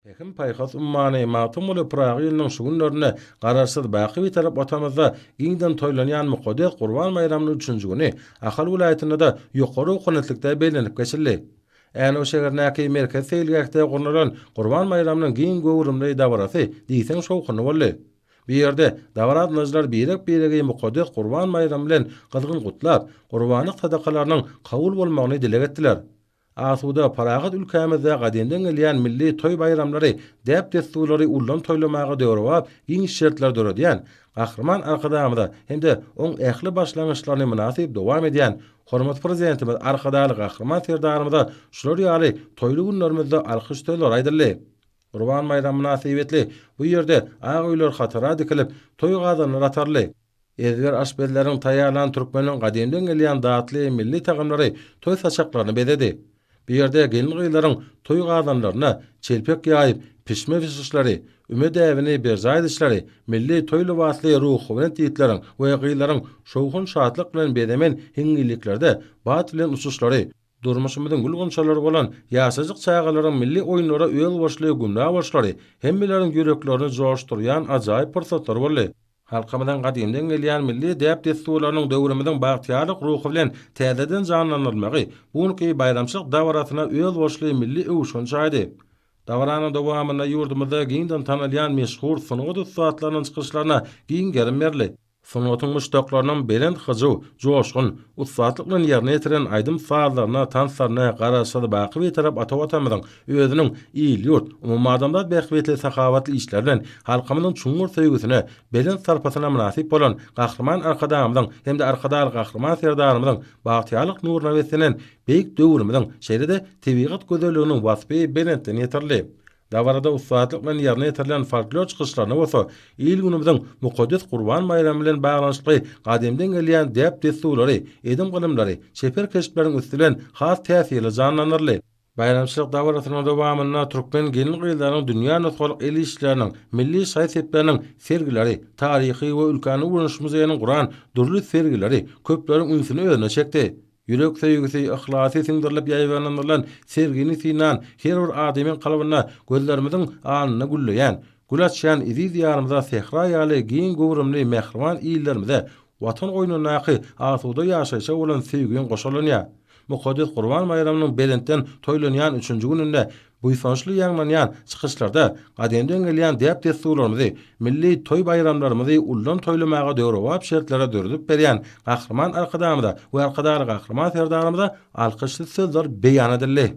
Pähim-paýhas ummany Magtymguly Pyragy ýylynyň şu günlerinde Garaşsyz, baky Bitarap Watanymyzda giňden toýlanýan mukaddes Gurban baýramynyň üçünji güni Ahal welaýatynda-da ýokary ownatlikde bellenip geçildi. Änew şäherindäki Merkezi seýilgähde gurnalan Gurban baýramynyň giň göwrümli dabarasy diýseň şowhunly boldy. Bu ýerde dabaraatnažylar birek-biregi mukaddes Gurban baýramy bilen gyzgyn gutlap, gurbanlyk sadakalarynyň kabul bolmagyny dileg etdiler. Asuda, parahat ülkämizde gadymdan gelýän milli toý-baýramlary, däp-dessurlary ullam toýlamaga döwrebap giň şertler döredýän Gahryman Arkadagymyza hem-de oň ähli başlangyçlaryny mynasyp dowam edýän hormatly Prezidentimiz Arkadagly Gahryman Serdarymyza şular ýaly toýly günlerimizde alkyş sözleri aýdyldy. Gurban baýramy mynasybetli bu ýerde ak öýler hatara dikilip, toý gazanlary ataryldy. Ezber aşpezleriň taýýarlan türkmeniň gadymdan gelýän datly milli tagamlary toý saçaklaryny bezedi. Bu ýerde gelin-gyzlaryň toý gazanlaryna çelpek ýaýyp, pişme bişişleri, üme däbini berjaý edişleri, milli toý lybasly ruhubelent ýigitleriň we gyzlaryň şowhun-şatlyk bilen bezemen hiňňilliklerde bat bilen uçuşlary, Durmuşymyzyň gül-gunçalary bolan ýaşajyk çagalaryň milli oýunlara özboluşly gümra boluşlary hemmeleriň ýüreklerini joşdurýan ajaýyp pursatlar boldy. Halkymyzyň gadymdan gelýän milli däp-dessurlarynyň döwrümiziň bagtyýarlyk ruhy bilen täzeden janlandyrylmagy bu günki baýramçylyk dabarasyna özboluşly milli öwüşgin çaýdy. Dabaranyň dowamynda ýurdumyzda giňden tanalýan meşhur sungat ussatlarynyň çykyşlaryna giň gerim berildi. Sungatyň muşdaklarynyň belent hyjuw, joşgun, ussatlyk bilen ýerine ýetiren aýdym-sazlaryna, tanslaryna Garaşsyz, baky Bitarap ata Watanymyzyň özüniň il-ýurt, umumadamzat bähbitli sahawatly işleri bilen halkymyzyň çuňňur söýgüsine, belent sarpasyna mynasyp bolan Gahryman Arkadagymyzyň hem-de Arkadagly Gahryman Serdarymyzyň bagtyýarlyk nuruna beslenen beýik döwrümiziň, şeýle-de tebigat gözelliginiň waspy belentden ýetirildi. Dabarada ussatlyk bilen ýerine ýetirilen folklor çykyşlaryna bolsa il-günümiziň mukaddes Gurban baýramy bilen baglanyşykly gadymdan gelýän däp-dessurlary, edim-gylymlary, çeper keşpleriň üsti bilen has täsirli janlandyryldy. Baýramçylyk dabarasynyň dowamynda türkmen gelin-gyzlarynyň dünýä nusgalyk el işleriniň, milli şaý-sepleriniň sergileri, taryhy we ülkäni öwreniş muzeýiniň guran dürli sergileri köpleriň ünsüni özüne çekdi. Ýürek söýgüsi, yhlasy siňdirilip ýaýbaňlandyrylan sergini synan her bir adamyň kalbynda gözlerimiziň alnynda gülleýän, gül açýan eziz Diýarymyza, sähra ýaly giň göwrümli mähriban illerimize, Watan goýnundaky asuda ýaşaýşa bolan söýgiň goşalanýar. Mukaddes Gurban baýramynyň belentden toýlanýan üçünji gününde Buýsançly ýaňlanýan çykyşlarda gadymdan gelýän däp-dessurlarymyzy, milli toý-baýramlarymyzy ullam toýlamaga döwrebap şertleri döredip berýän Gahryman Arkadagymyza we Arkadagly Gahryman Serdarymyza alkyşly sözler beýan edildi.